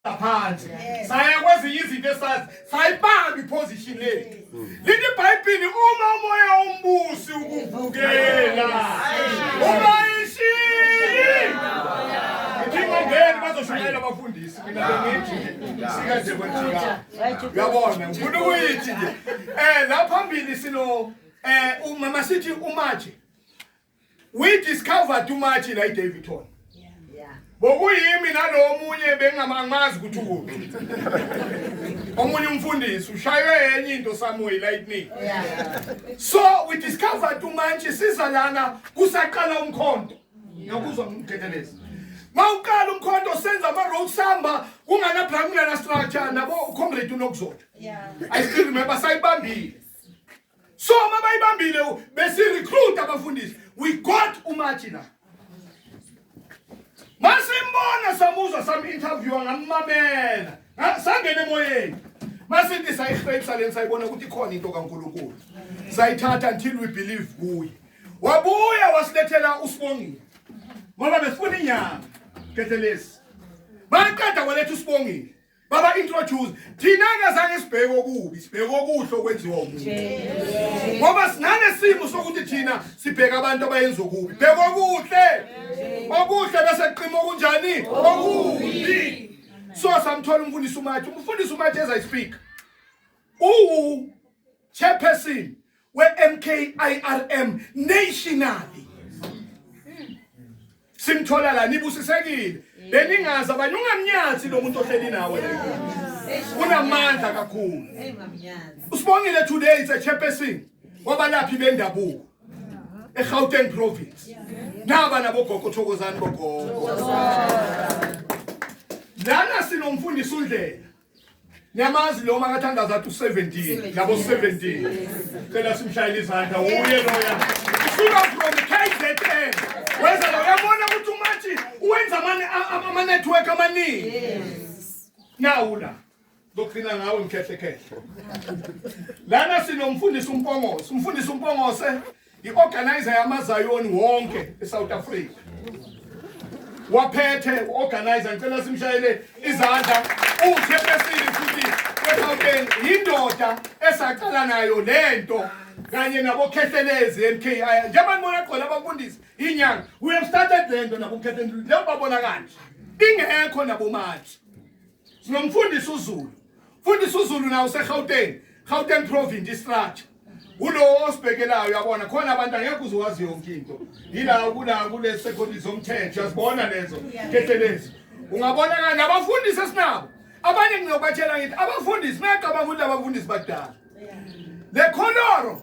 phansi saya kwezinye izinto esazi sayibamba iposition lethu lithi ibhayibhili uma umoya ombusi ukuvukela uma ishili ngingongeni bazoshumayela abafundisi mina bengithi sika nje kwenjika uyabona ngifuna ukuyithi nje um la phambili sino um mama sithi umaje we discovered too much la iDavidton bokuyimi nalomunye bengamamazi ukuthi ukuphi omunye umfundisi ushaywe enye into somewhere lightning so we discovered too much siza lana kusaqala umkhonto nokuzwa umthethelezi mawuqala umkhonto senza ama road samba kungana brahmina na structure nabo comrade unokuzotha i still remember sayibambile so uma bayibambile besirecruit abafundisi we got umathi la masimbona samuzwa samu-interviewa ngammamela sangene emoyeni masithi sayi-faith saleni sayibona ukuthi ikhona into kankulunkulu sayithatha until we believe kuye wabuya wasilethela usibongile ngoba besifuna inyanga gethelezi baqeda kwaletha usibongile baba introduce thina ngazange sibheke okubi sibheke okuhle okwenziwa umuntu ngoba sinalesimo sokuthi thina sibheka abantu abayenza okubi bheka okuhle okuhle bese qima okunjani okubi so samthola umfundisi umathi umfundisi umathi as i speak uwu chairperson we-MKIRM nationally simthola la nibusisekile beningazi abanye ungamnyathi lo muntu ohleli nawe unamandla kakhulu usibongile today it's a chairperson wabalaphi bendabuko eGauteng province naba nabogogo thokozani bogogo lana sinomfundisi undlela Niyamazi lo makathandaza athi u-17 nabo 17 cela simshayele izandla uye loya usuka from KZN weza lo uyabona ukuthi umathi uwenza ama-network amaningi nawu la zoqina ngawe mkhehlekhehla lana sinomfundisi umpongose umfundisi umpongose i-organizer yamazayoni wonke e-south africa waphethe u-organizer ngicela simshayele izandla uhle besile futhi wegauteng yindoda esaqala nayo le nto kanye nabokhehlelezi m k i njengoba nibona khona abafundisi yinyanga we have started le nto nabokhehlelezi njengoba babona kanje ingekho nabomathi sinomfundisi uZulu mfundisi uZulu nawo useGauteng Gauteng province istructure ulowo osibhekelayo yabona khona abantu angekho uziwazi yonke into yila kula kule secondary zomthetho yazibona lezo ketelezi ungabona kanjani abafundisi esinabo abanye ngiyobatshela ngithi abafundisi nacabanga ukuthi abafundisi badala le khonoro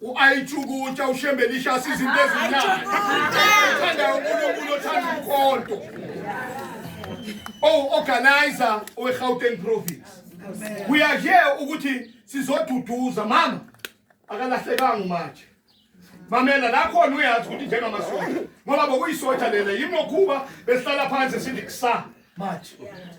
U-ayithukutsha ushembe lishasa izinto ezinyanga othandayo unkulunkulu othanda umkhonto owu-organizer oh, owe-gauteng province uyazhe ukuthi sizoduduza mama akalahlekanga umatshe mamela la khona uyazi ukuthi njengamasotsha ngoba bokuyisotsha lena yimokhuba besihlala phansi sithi kusa manje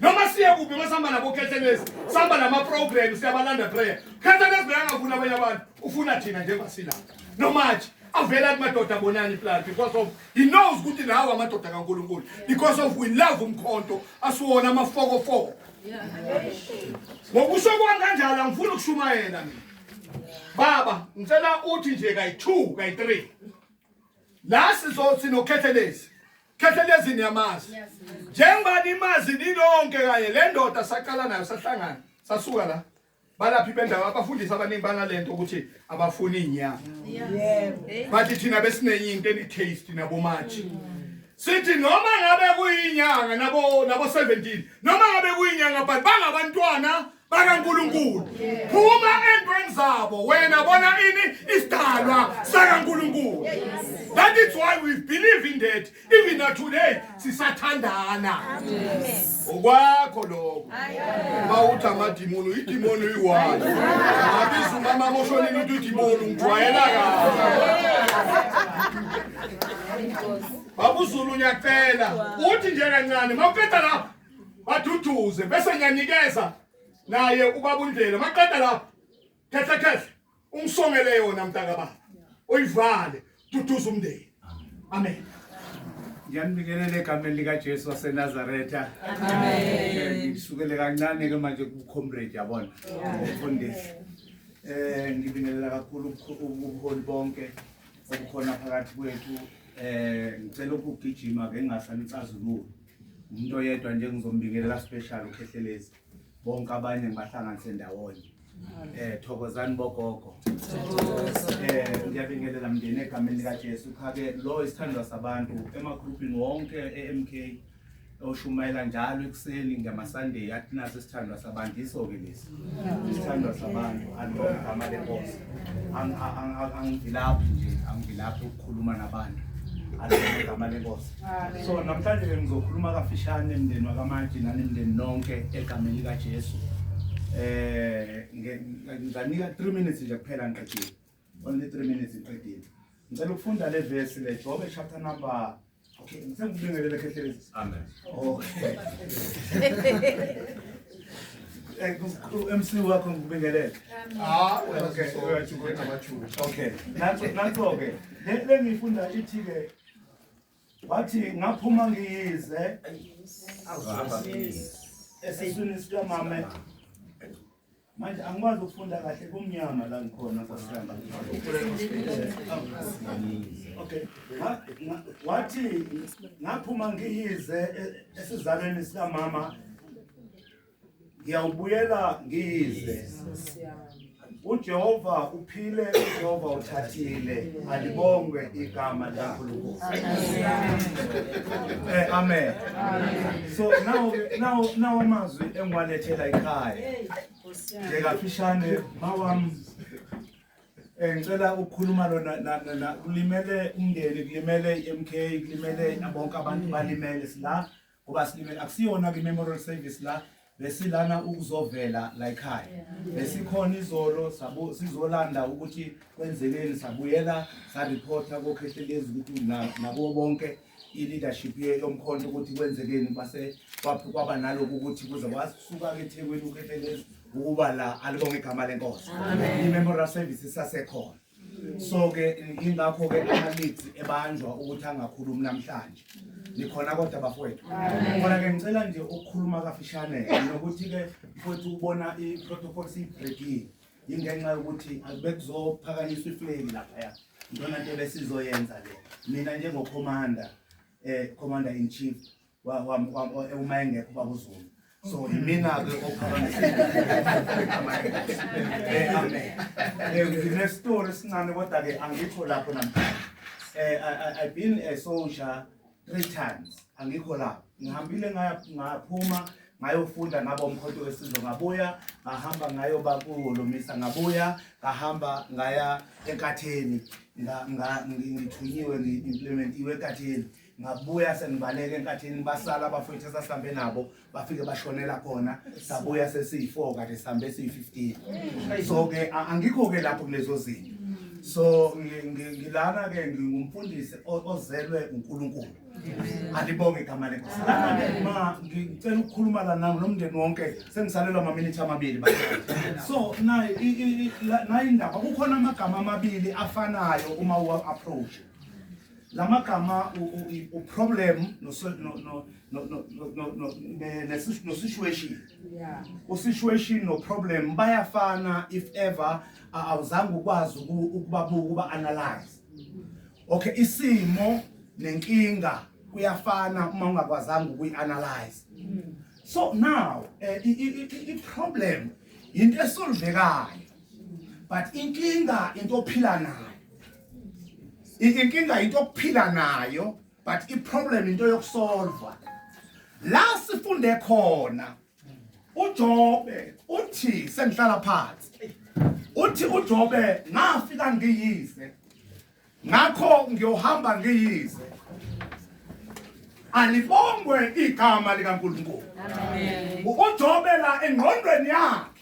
noma siye kuphi uma sihamba nabo khethelezi sihamba nama-program siyabalanda prayer khethelezi beyangafuni abanye abantu ufuna thina njengoba silapha nomanje avele athi madoda abonani plan because of he knows ukuthi lawo amadoda kankulunkulu because of we love umkhonto asiwona amafokofoko ngokusho kwami kanjalo angifuni ukushumayela mina baba ngicela uthi nje kayi-two kayi-three la sizosinokhetheleezi Khethelezi niyamazi. Njengoba nimazi ninonke kanye le ndoda saqala nayo sahlangana sasuka la. Balaphi bendawo abafundisi abaningi banalento ukuthi abafuni inyama. Yebo. Bathi thina besinenye into eni taste nabomatshi. Sithi noma ngabe kuyinyanga nabo nabo 17 noma ngabe kuyinyanga but bangabantwana bakaNkulunkulu phuma entweni zabo wena bona ini isidalwa sakaNkulunkulu that is why we believe in that even na today sisathandana okwakho lokho bawuthi amadimoni uyidimoni uyiwani abiza umama moshonini uthi udimoni ungijwayela kahle babuzulu ngiyacela uthi nje kancane mawuqeda lapho baduduze bese ngiyanikeza naye ubaba uNdlela maqeda lapho khehle khehle ungisongele yona mntaka baba uyivale duduza umndeni amen ngiyanibingelela egameni likajesu wasenazaretha ngisukele kancane ke manje kucomrade yabona umfundisi um ngibingelela kakhulu ubuholi bonke obukhona phakathi kwethu um ngicela ukugijima ke ngingasanicazululi umuntu oyedwa nje ngizombingelela special ukhehlelezi bonke abanye ngibahlanganise ndawonye eh thokozani bogogo eh ngiyabingelela mndeni egameni likaJesu khake lo isithandwa sabantu emagroupini wonke eMK oshumayela njalo ekuseni ngamasunday athi naso isithandwa sabantu iso ke lesi isithandwa sabantu andilogama lenkosi angivilaphi nje angivilaphi ukukhuluma nabantu andilogama lenkosi so namhlanje ke ngizokhuluma kafishane mndeni wakamaji nanemndeni nonke egameni likajesu um ngizanika three minutes nje kuphela ngiqedile only 3 minutes iqedile ngicela ukufunda le verse le Jobe chapter number okay ngicela ukubingelela khehlelezi amen okay eh, MC wakho ngikubingelele ah okay uyachukulela abachuku okay nanso nanso ke le ngifunda ithi ke wathi ngaphuma ngiyize esiswini sikamama Manje angikwazi ukufunda kahle kumnyama la ngikhona nkosiyami. Okay. Wathi ngaphuma ngiyize e- esizalweni sikamama ngiyawubuyela ngiyize. UJehova Phile Jehova uthathile alibongwe igama likaNkulunkulu. Eh amen. So now now now amazwi engiwalethela ekhaya. Nje kafishane mawam eh ngicela ukukhuluma lona kulimele umndeni kulimele iMK kulimele bonke abantu balimele sila ngoba silimele akusiyona ke memorial service la besilana ukuzovela la ekhaya besikhona izolo sabo sizolanda ukuthi kwenzekeni sabuyela sa reporta ko khehlelezi ukuthi nabo bonke i leadership ye yomkhonto ukuthi kwenzekeni base kwaphi kwaba naloku ukuthi kuze wasuka ke eThekwini ukhehlelezi ukuba la alibonge igama lenkosi amen i memorial service sasekhona so ke ingakho ke ama-leads ebanjwa ukuthi angakhulumi namhlanje nikhona kodwa bafowethu khona ke ngicela nje ukukhuluma kafishane nokuthi-ke mfowethu ubona i-protocol siyibrekile yingenxa yokuthi akube kuzophakanyiswa ifleki laphaya ntona nto besizoyenza le mina njengokhomanda um commander in chief uma engekho ubaba uzulu so imina-ke ophakamiseamenestori sincane kodwa-ke angikho lapho namhlanje eh, um i been a soldier three times angikho lapho ngihambile ngaphuma ngayofunda ngaba umkhonto wesizwe ngabuya ngahamba ngayoba kulomisa ngabuya ngahamba ngaya enkatheni ngithunyiwe ngi-implementiwe ekatheni ngabuya sengibaleka enkathini basala abafowethu esasihambe nabo bafike bashonela khona sabuya sesiyi-four kade sihambe siyi-fifteen so-ke angikho-ke lapho kulezo zinto so ngilana-ke ngingumfundisi ozelwe unkulunkulu alibonge igama lenkosi lana-ke ma ngicela ukukhuluma la nami nomndeni wonke sengisalelwa amaminithi amabili so naye indaba kukhona amagama amabili afanayo uma uwa-approache lamagama uproblem nosituation usituation noproblem bayafana if ever awuzange ukwazi ukubabuka uba analyze okay isimo nenkinga kuyafana uma ungakwazanga ukuyi-analyze so now eh, iproblem yinto esolvekayo but inkinga into ophila nayo inkinga into yokuphila nayo but iproblem into yokusolva la sifunde khona uJobe uthi sengihlala phansi uthi uJobe ngafika ngiyise ngakho ngiyohamba ngiyise alibongwe igama likaNkulunkulu amen uJobe la engqondweni yakhe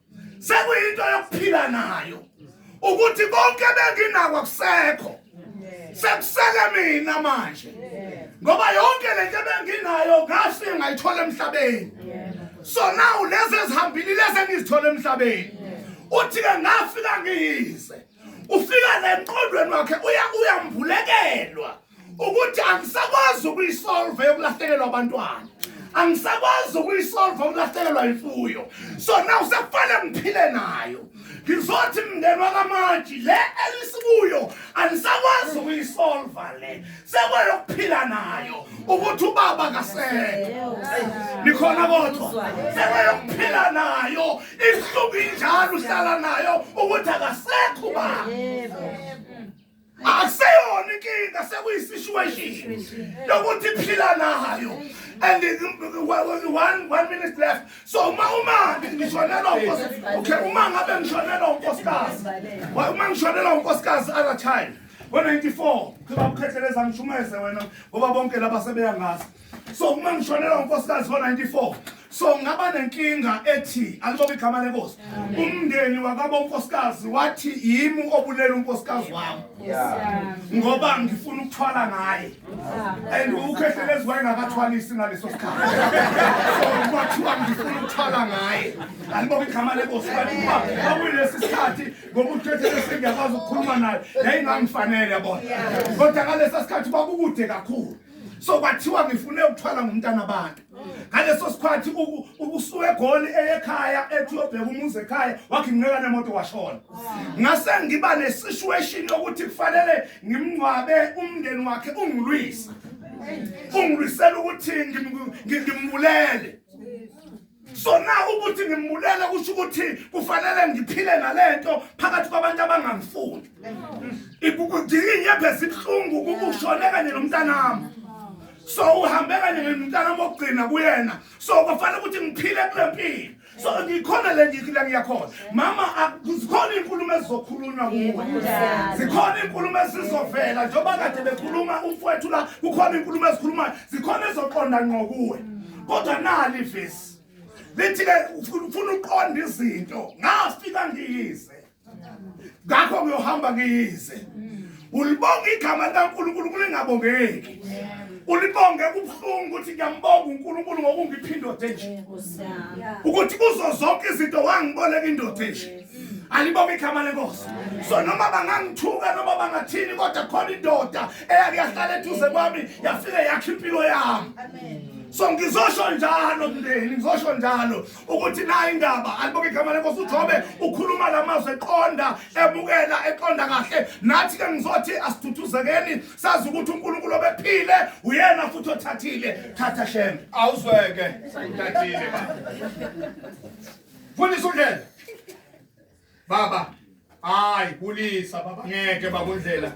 sekuyinto yokuphila nayo ukuthi konke benginako akusekho sekusele mina manje ngoba yonke le nto ebenginayo ngase ngayithola emhlabeni so now lezi ezihambile lezi engizithola emhlabeni uthi-ke ngafika ngiyize ufika lenqondweni wakhe uya uyambulekelwa ukuthi angisakwazi ukuyisolve yokulahlekelwa abantwana angisakwazi ukuyisolve ukulahlekelwa imfuyo so now sekufanele ngiphile nayo ngizothi mndeni wakamaji le elisikuyo anisakwazi ukuyisolva le sekweyokuphila nayo ukuthi ubaba kasekho nikhona kodwa sekweyokuphila nayo ihluku injalo uhlala nayo ukuthi akasekho ubaba akuseyona inkinga sekuyisituation lokuthi phila nayo and one, one minute left so uma umake ngishonelwa unkosikazi okay uma ngabe ngishonelwa unkosikazi uma ngishonelwa unkosikazi other time ngo-94 khibakukhetheleza ngishumeze wena ngoba bonke laba sebeyangazi so uma ngishonelwa unkosikazi ngo-94 so ngaba nenkinga ethi alibobe igama lenkosi umndeni wakabo unkosikazi wathi yimi obulela unkosikazi wami ngoba ngifuna ukuthwala ngaye and ukhehlelezi wayengakathwalisi ngaleso sikhathi so kwathiwa ngifuna ukuthwala ngaye alibobe igama lenkosi kanti kuba kwakuyilesi sikhathi ngoba ukhehlelesi ngiyakwazi ukukhuluma naye yayingangifanele yabona kodwa ngalesa sikhathi kwakukude kakhulu so kwathiwa ngifune ukuthwala ngomntana abantu ngaleso sikhathi ubusuke egoli eyekhaya ethi uyobheka umuzi ekhaya wakhe nginceka nemoto washona ngase ngiba nesituation yokuthi kufanele ngimngcwabe umndeni wakhe ungilwisa ungilwisela ukuthi ngimbulele sona ukuthi ngimbulele kusho ukuthi kufanele ngiphile nalento phakathi kwabantu abangangifuni ndinginyebhe sibuhlungu kukushone kanye nomntanami so uhambe kanye nomntanami okugcina kuyena so kwafanele ukuthi ngiphile kule mpilo so ngikhona le ngikila ngiyakhona mama zikhona iy'nkulumo ezizokhulunywa kuwe zikhona iy'nkulumo ezizovela njengoba kade bekhuluma umfowethu la kukhona iy'nkulumo ezikhulumayo zikhona ezoqonda ngqo kuwe kodwa nali vesi lithi ke ufuna uqonda izinto ngafika ngiyize ngakho ngiyohamba ngiyize ulibonga igama likaNkulunkulu kulingabongeki ulibonge kubuhlungu ukuthi ngiyambonga uNkulunkulu ngokungipha indoda enje ukuthi kuzo zonke izinto wangiboleka indoda enje alibonge igama lenkosi so noma bangangithuka noma bangathini kodwa khona indoda eyake yahlala eduze kwami yafike yakhe impilo yami so ngizosho njalo mndeni ngizosho njalo ukuthi nayo indaba alibonge igama lenkosi ujobe ukhuluma la mazwi eqonda ebukela eqonda kahle nathi ke ngizothi asithuthuzekeni sazi ukuthi unkulunkulu obephile uyena futhi othathile thatha shembe awuzweke ngithathile Fundisa undlela. Baba. Hayi kulisa baba ngeke bakundlela.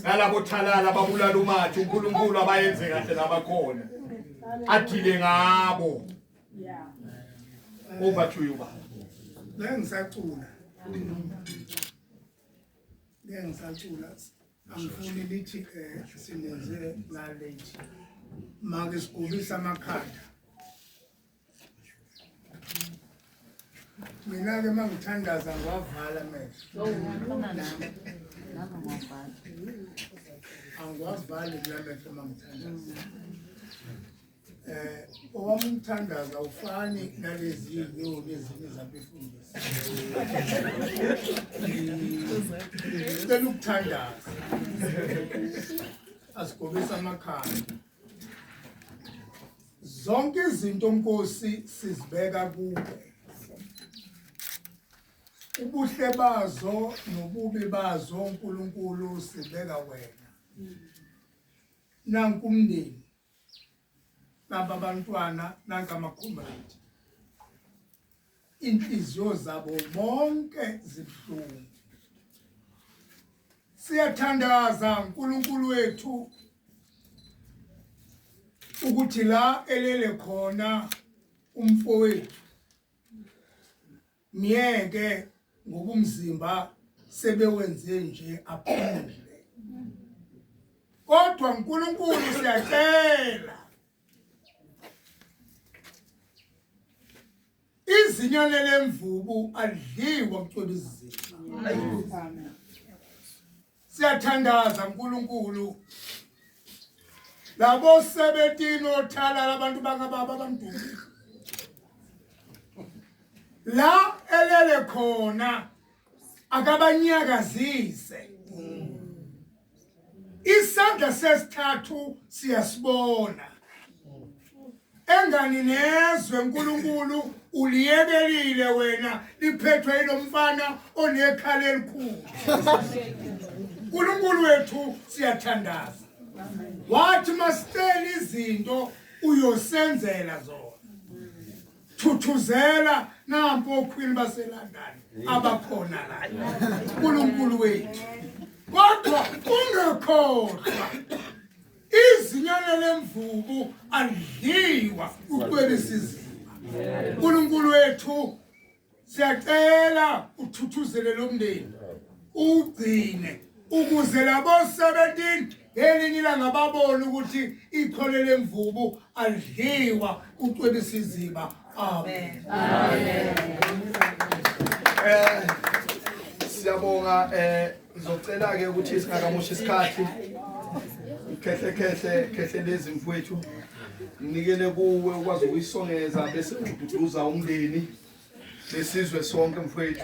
Nalabo thalala babulala umathi uNkulunkulu abayenze kahle labakhona. Athile ngabo. Yeah. Over to you baba. La ngisacula. La ngisacula. Angifuni lithi eh sinenze la late. Make sigubisa amakhanda. mina-ke uma ngithandaza ngiwavala amehlo angiwavali kulamehlo uma ngithandaza eh owami umthandazo awufani nalezi nyoni ezinye zabefundisi cela ukuthandaza asigobisa amakhanda zonke izinto nkosi sizibeka kuwe ubuhle bazo nobubi bazo uNkulunkulu sibeka wena nanku umndeni nabantwana nanka amakhomrade inhliziyo zabo bonke zibuhlungu siyathandaza uNkulunkulu wethu ukuthi la elele khona umfowethu myeke ngokumzimba sebewenze nje aphumule kodwa uNkulunkulu siyacela izinya lelemvubu alidliwa kucweba izizinga siyathandaza uNkulunkulu labo 17 othala labantu bakababa abamdumile la elele khona akabanyakazise isandla sesithathu siyasibona engani nezwe uNkulunkulu uliyekelile wena liphethwe ilomfana onekhala elikhulu uNkulunkulu wethu siyathandaza wathi masicela izinto uyosenzela zona thuthuzela nampo okhwini baseLondon abakhona la uNkulunkulu wethu kodwa ungekhohlwa izinyane lemvubu alidliwa ukwebisa izimba uNkulunkulu wethu siyacela uthuthuzele lo mndeni ugcine ukuze labo 17 ngelinye ilanga babone ukuthi ikhole lemvubu alidliwa kucwebisa iziba amen amen eh siyabonga eh Ngizocela ke ukuthi singakamoshi isikhathi khehle khehle khehle lezi mfwethu nginikele kuwe ukwazi ukuyisongeza bese ududuza umndeni lesizwe sonke mfwethu